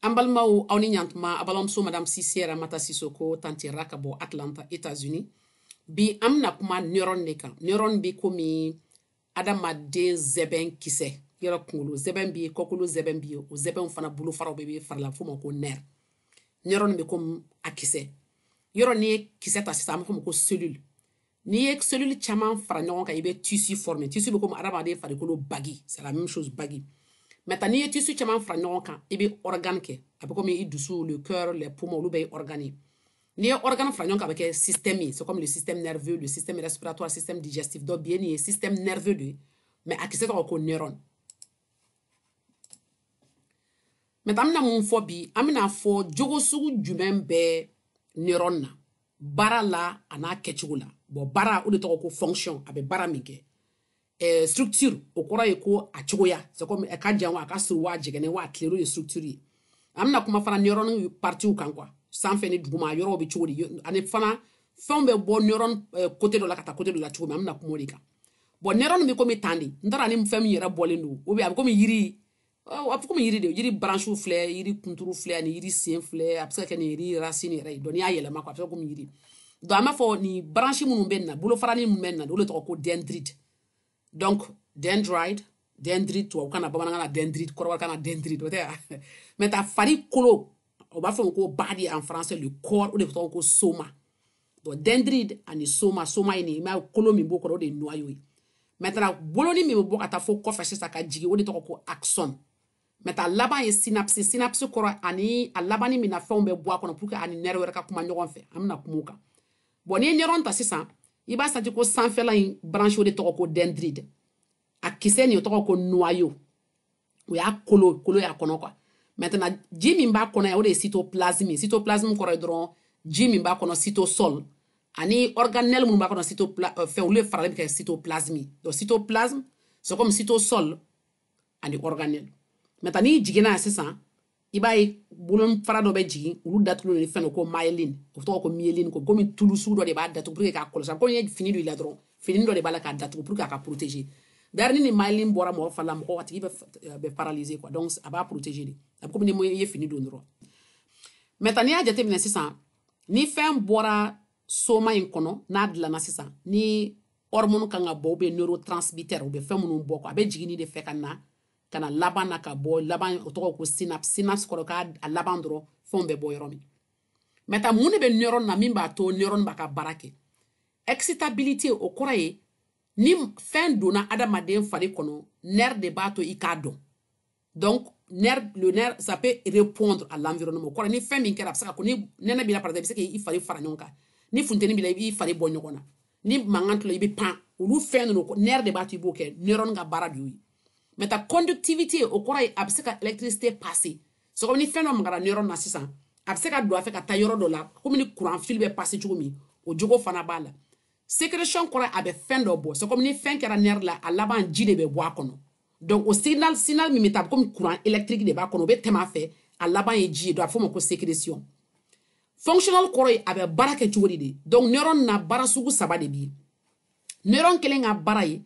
an balimaw aw ni ɲantuma a balimamuso madame sise ramata sisoko tanti ra ka bɔ atlanta états-unis bi an bɛna kuma neuron de kan neuron bɛ komi adamaden zɛbɛn kisɛ yɔrɔ kunkolo zɛbɛn bɛ yen kɔkolo zɛbɛn bɛ yen o zɛbɛnw fana bolofaraw bɛ bɛ fari la f'o ma ko nerf neuron bɛ komi a kisɛ yɔrɔ n'i ye kisɛ ta sisan an b'a fɔ ko cellule n'i ye cellule caman fara ɲɔgɔn kan i bɛ tissu former tissu bɛ komi adamaden farikolo bagi c'est la même chose bagi maintenant n'i ye tissu caman fara ɲɔgɔn kan i bɛ organe kɛ a bɛ komi i dusu le cœur les poumons olu bɛɛ ye organe ye n'i ye organe fara ɲɔgɔn kan a bɛ kɛ système ye c'est comme le système nerveux le système respiratoire système digestif donc bi ye nin ye système nerveux de ye mais a kisɛ tɔgɔ ko neuron maintenant an bɛna mun fɔ bi an bɛna fɔ jogo sugu jumɛn bɛ neuron na baara la an'a kɛcogo la bon baara o de tɔgɔ ko fonction a bɛ baara min kɛ eh, structure o kɔrɔ ye ko a cogoya c'est comme a ka jan wa a ka surun wa a jɛngɛnen wa a tilennen o ye structure ye an bɛna kuma fana neuron partiw kan quoi sanfɛ ni duguma yɔrɔw bɛ cogo di ani fana fɛnw bɛ bɔ neuron côté eh, dɔ la ka taa côté dɔ la cogo min an bɛna kuma o de kan bon neuron bɛ komi tan de n t'a dɔn a ni fɛn min yɛrɛ bɔlen don ou bien a bɛ komi yiri a bɛ komi yiri de yiri branche filɛ yiri kunturu filɛ ani yiri sen filɛ a bɛ se ka kɛ nin yiri racine yɛrɛ ye donc n'i y'a yɛlɛma a bɛ se ka komi yiri donc an b'a fɔ nin branche minnu bɛ nin na bolofarani minnu bɛ nin na olu tɔgɔ ko dendrite donc dendrite dendrite tubabukan na bamanankan na dendrite kɔrɔbɔrɔkan na dendrite o tɛ yan maintenant farikolo o b'a fɔ ko body en français le corps o de tɔgɔ ko soma bon dendrite ani soma soma ye nin ye mais kolo min b'o kɔrɔ o de ye noyau ye maintenant boloni min bɛ bɔ ka taa fo kɔfɛ sisan ka jigin o de tɔgɔ ko axone maintenant a laban ye synapse synapse kɔrɔ ani a labanni min na fɛnw bɛ bɔ a kɔnɔ pour que a ni nerf wɛrɛ ka kuma ɲɔgɔn fɛ an bɛna kuma o kan bon n'i ye neuron ta sisan i b'a senti ko sanfɛla in branche o de tɔgɔ ko dendrite a kisɛ nin o tɔgɔ ko noyau o y'a kolo kolo y'a kɔnɔ quoi maintenant ji min b'a kɔnɔ yan o de ye cytoplasme ye cytoplasme kɔrɔ ye dɔrɔn ji min b'a kɔnɔ cytosol ani organelle minnu b'a kɔnɔ cyto euh, fɛn olu de faralen bɛ kɛ cytoplasme donc cytoplasme c'est comme cytosol ani organelle maintenant n'i jiginna yan sisan i b'a ye bolofara dɔ bɛ jigin olu datugulen ni fɛn ko myelin o tɔgɔ ko myéline ko komi tulu sugu dɔ de b'a datugu pour que k'a kɔlɔsi ko i ye fini don i la dɔrɔn fini dɔ de b'a la k'a datugu pour que a ka protéger d'ailleurs ni myelin bɔra mɔgɔ fari la mɔgɔ a tigi bɛ euh, paralyser quoi donc a b'a protéger de a bɛ komi ni i ye fini don dɔrɔn maintenant n'i y'a jateminɛ sisan ni fɛn bɔra soma in kɔnɔ n'a dilanna sisan ni hormone kan ka bɔ ou bien neurotransmitter u bɛ fɛn minnu bɔ quoi a bɛ jigin nin de fɛ ka na ka na laban na ka bɔ laban o tɔgɔ ko synapse synapse kɔrɔ ka a laban dɔrɔn fɛnw bɛ bɔ yɔrɔ min maintenant mun de bɛ neuron na min b'a to neuron b'a ka baara kɛ excitabilité o kɔrɔ ye ni fɛn donna adamaden fari kɔnɔ nerf de b'a to i k'a dɔn donc nerf le nerf ça peut répondre à l'environnement o kɔrɔ ni fɛn min kɛra a bɛ se ka ko ni nɛnɛ b'i la par exemple i bɛ se k'i fari fara ɲɔgɔn kan ni funteni b'i la i b'i fari bɔ ɲɔgɔn na ni mankan tula i bɛ pan olu fɛn ninnu nerf de b'a to i b'o kɛ neuron ka baara de y'o ye maintenant conductivité o kɔrɔ ye a bɛ se ka électricité passer c'est comme ni fɛn dɔ magara neuron na sisan a bɛ se ka don a fɛ ka taa yɔrɔ dɔ la komi ni courant fil bɛ passer cogo min o jogo fana b'a la sécrétion kɔrɔ a bɛ fɛn dɔ bɔ c'est comme ni fɛn kɛra nerf la a laban ji de bɛ bɔ a kɔnɔ donc o signal signal min bɛ taa komi courant électrique de b'a kɔnɔ o bɛ tɛmɛ a fɛ a laban ye ji ye donc a bɛ f'o ma ko sécrétion fonctionnel kɔrɔ ye a bɛ baara kɛ cogo di de donc neuron na baara sugu saba de bɛ yen neuron kelen ka baara ye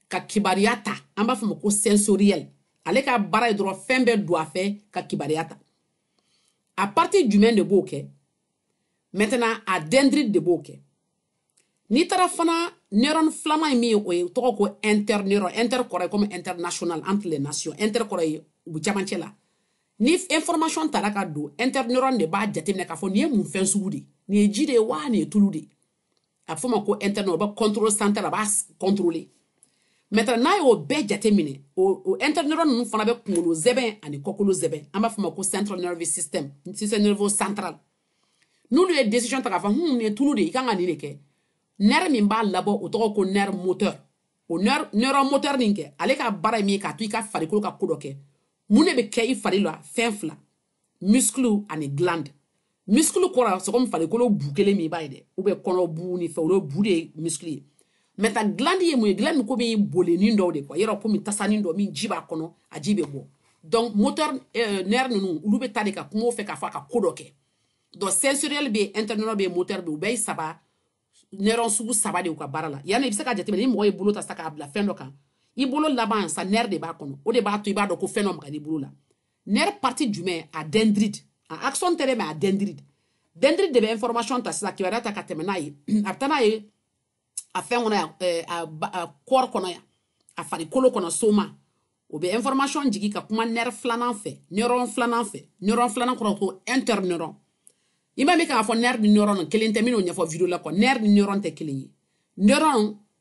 ka kibaruya ta an b'a fɔ ma ko sensoriel ale ka baara ye dɔrɔn fɛn bɛ don a fɛ ka kibaruya ta a partie jumɛn de b'o kɛ maintenant a dendrite de b'o kɛ n'i taara fana neuron filanan ye min ye o ye tɔgɔ ko interneuron inter kɔrɔ ye comme international entre les nations inter kɔrɔ ye u bɛ camancɛ la ni information tara ka don interneuron de b'a jateminɛ k'a fɔ nin ye mun fɛn sugu de ye nin ye ji de ye wa nin ye tulu de ye a fɔ ma ko interneuron o bɛ contrôle central a b'a contrôler maintenant n'a y'o bɛɛ jateminɛ o interneuron ninnu fana bɛ kunkolo sɛmɛ ani kɔkolo sɛmɛ an b'a fɔ ma ko central nervous system système nerveux central n'olu ye décision ta k'a fɔ hun nin ye tulu de ye i kan ka nin de kɛ nerf min b'a labɔ o tɔgɔ ko nerf moteur o nerf neuron moteur nin kɛ ale ka baara ye min ye k'a to i ka farikolo ka ko dɔ kɛ mun de bɛ kɛ i fari la fɛn fila muscle ani glande muscle kɔrɔ c'est comme farikolo bu kelen min b'a ye dɛ ou bien kɔnɔ bu ni fɛ olu bu de ye muscle ye maintenant glande ye mun ye glande ko bɛ bolenin dɔw de kɔ yɔrɔ komi tasanin dɔ min ji b'a kɔnɔ a ji bɛ bɔ donc moteur euh, nerf ninnu olu bɛ taa de ka kuma o fɛ k'a fɔ a ka ko dɔ kɛ donc sensoriel bɛ yen interneuron bɛ yen moteur bɛ yen u bɛɛ ye saba neuron sugu saba de u ka baara la yanni i bɛ se ka jateminɛ ni mɔgɔ ye bolo ta sa k'a bila fɛn dɔ kan i bolo laban sa nerf de b'a kɔnɔ o de b'a to i b'a dɔn ko fɛn dɔ magara i bolo la nerf partie jumɛn a dendrite a axon tɛ dɛ mais a dendrite dendrite de bɛ information ta sisan kibaruya ta ka tɛmɛ n'a ye a bɛ taa n'a ye a fɛn kɔnɔ yan eh, a corps kɔnɔ yan a farikolo kɔnɔ soma o bɛ information jigin ka kuma nerf filanan fɛ neuron filanan fɛ neuron filanan kɔrɔ ko interneuron i m'a mɛn k'a fɔ nerf ni neuron kelen tɛ n bɛn'o ɲɛfɔ video la kɔ nerf ni neuron tɛ kelen ye neuron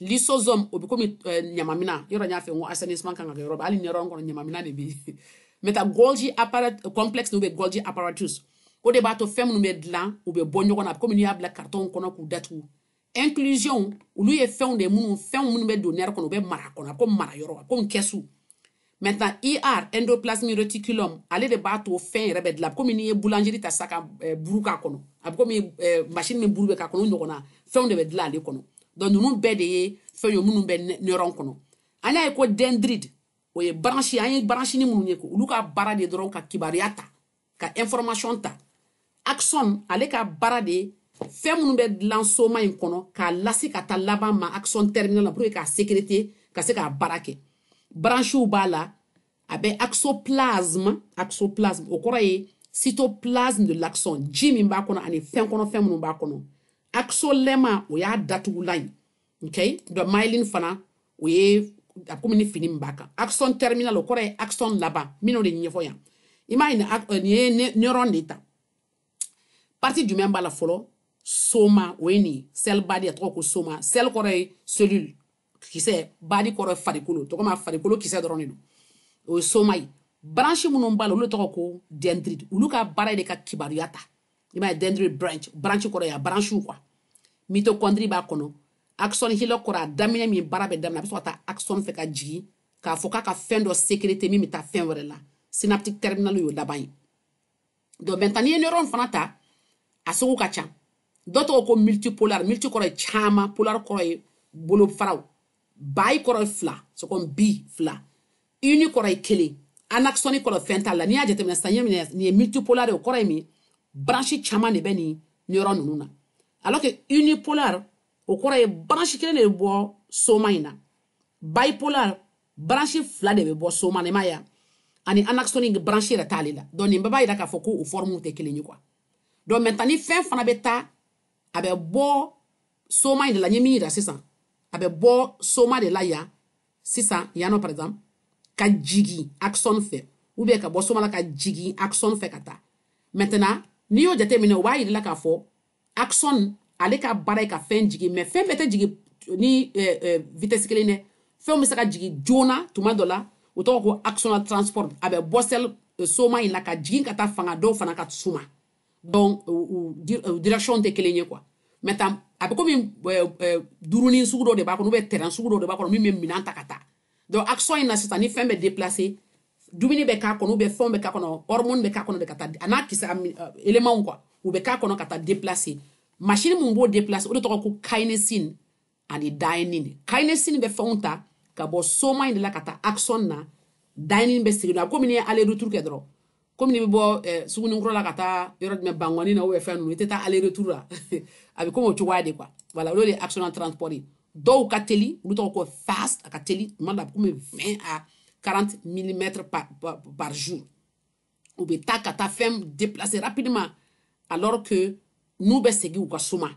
lysosome o bɛ komi eh, ɲamamina yɔrɔ n y'a fɔ n ko assainissement kan ka kɛ yɔrɔ bɛɛ hali neuron kɔnɔ ɲamamina de bɛ yen maintenant golgi apparat complexe n'o bɛ golgi apparatus o de b'a to fɛn minnu bɛ dilan u bɛ bɔ ɲɔgɔn na komi n'i y'a bila karitɔnw kɔnɔ k'u datugu inclusion olu ye fɛnw de ye minnu fɛnw minnu bɛ don nerf kɔnɔ u bɛ mara kɔnɔ ko mara yɔrɔ komi kɛsu maintenant ER endoplasmic reticulum ale de b'a to fɛn yɛrɛ bɛ dilan komi n'i ye boulangerie ta sa ka eh, buru k'a kɔnɔ a bɛ komi eh, machine min buru bɛ k'a kɔnɔ o ɲɔgɔnna fɛnw de bɛ dilan ale kɔnɔ donc ninnu bɛɛ de ye fɛn ye minnu bɛ neuron kɔnɔ an y'a ye ko dendrite o ye branche an ye branchini minnu ye olu ka baara de dɔrɔn ka kibaruya ta ka information ta axon ale ka baara de fɛn minnu bɛ dilan soma in kɔnɔ k'a lase ka taa laban ma axon terminal la pour que k'a sécréter ka se k'a baara kɛ branchew b'a la a bɛ axoplasme axoplasme o kɔrɔ ye cytoplasme de l'axon ji min b'a kɔnɔ ani fɛn kɔnɔ fɛn minnu b'a kɔnɔ axolemma o y'a datugulan ye okay donc myelin fana o ye a komi ni fini min b'a kan axon terminal o kɔrɔ ye axon laban minnu de ɲɛfɔ yan i m'a ye nin ye neuron de ta partie jumɛn b'a la fɔlɔ soma o ye nin ye cell body a tɔgɔ ko soma cell kɔrɔ ye cellule kisɛ body kɔrɔ ye farikolo tɔgɔ ma farikolo kisɛ dɔrɔn de don o ye soma ye branche minnu b'a la olu tɔgɔ ko dendrite olu ka baara de ka kibaruya ta i b'a ye dendrite branche branche kɔrɔ ye a branchew quoi mitochondrie b'a kɔnɔ axon hillock kɔrɔ a daminɛ min baara bɛ daminɛ a bɛ sɔrɔ ka taa axon fɛ ka jigin k'a fɔ k'a ka fɛn dɔ sécréter min bɛ taa fɛn wɛrɛ la synaptique terminal y'o laban ye donc maintenant n'i ye neuron fana ta a sugu ka ca dɔ tɔgɔ ko multipolar multi kɔrɔ ye caman polar kɔrɔ ye bolofaraw bi kɔrɔ ye fila c'est comme bi fila uni kɔrɔ ye kelen anaxonic kɔrɔ fɛn t'a la n'i y'a jateminɛ sisan ye minɛ nin ye multipolar de o kɔrɔ ye min branche caman de bɛ nin neuron ninnu na alors que unipolar o kɔrɔ ye branche kelen de bɛ bɔ soma in na bipolar branche fila de bɛ bɔ soma na i m'a ye ani anaxonic branche yɛrɛ t'ale la donc nin bɛɛ b'a jira k'a fɔ ko u forme tɛ kelen ye quoi donc maintenant ni fɛn fana bɛ taa a bɛ bɔ soma in de la n ye min yira sisan a bɛ bɔ soma de la yan sisan yan nɔ par exemple ka jigi axon fɛ ou bien ka bɔ soma la ka jigi axon fɛ ka taa maintenant n'i y'o jateminɛ o b'a yira la k'a fɔ axon ale ka baara ye ka fɛn jigi mais fɛn bɛɛ tɛ jigi ni eh, eh, vitesse kelen dɛ fɛnw bɛ se ka jigi joona tuma dɔ la o tɔgɔ ko axonal transport a bɛ bɔ cell eh, soma in la ka jigin ka taa fanga dɔw fana ka suma donc direction tɛ kelen ye quoi maintenant a bɛ komi duurunin sugu dɔ de b'a kɔnɔ ou bien train sugu dɔ de b'a kɔnɔ min bɛ minɛn ta ka taa donc axon in na sisan ni fɛn bɛ déplacer dumuni bɛ k'a kɔnɔ ou bien fɛnw bɛ k'a kɔnɔ hormone bɛ k'a kɔnɔ de ka taa a n'a kisɛ éléments quoi u bɛ k'a kɔnɔ ka taa déplacer machine min b'o déplacer o de tɔgɔ ko kinesin ani dynein de kinesin bɛ fɛnw ta ka bɔ soma in de la ka taa axon na dynein bɛ segin la komi n'i ye aller retour kɛ dɔrɔn komi n'i bɛ bɔ eh, sugunikura la ka taa yɔrɔ jumɛn bankɔni na ou bien fɛn ninnu i tɛ taa aller retour la a bɛ komi o cogoya de quoi voilà o de ye axonal transport ye dɔw ka teli olu tɔgɔ ko fast a ka teli tuma dɔ a bɛ komi 20 à 40 millimètres par, par, par jour u bɛ taa ka taa fɛn déplacer rapidement alors que n'u bɛ segin u ka suma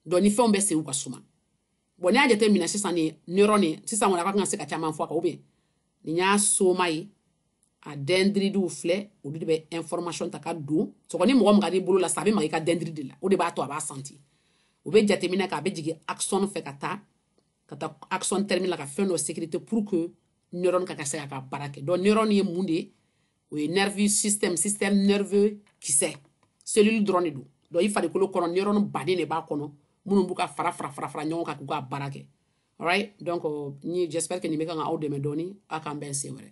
donc ni fɛnw bɛ segin u ka suma bon n'i y'a jateminɛ sisan nin neuron nin sisan kɔni a ka kan ka se ka caman fɔ a kan ou bien nin y'a soma ye a dendritew filɛ olu de bɛ information ta ka don sɔgɔ ni mɔgɔ magar'i bolo la sisan a bɛ maga i ka dendrite la o de b'a to a b'a senti u bɛ jateminɛ kɛ a bɛ jigin axon fɛ ka taa ka taa axon terminal la ka fɛn dɔ sécréter pour que neurone ka ka se ka ka baara kɛ donc neurone ye mun de ye o ye nerveux système système nerveux kisɛ cellule dɔrɔn de don donc i farikolo kɔnɔ neurone baden de b'a kɔnɔ minnu b'u ka fara fara fara fara ɲɔgɔn kan k'u ka baara kɛ alright donc euh, ni j'espère que nin bɛ kan ka aw dɛmɛ dɔɔni aw k'an bɛn sen wɛrɛ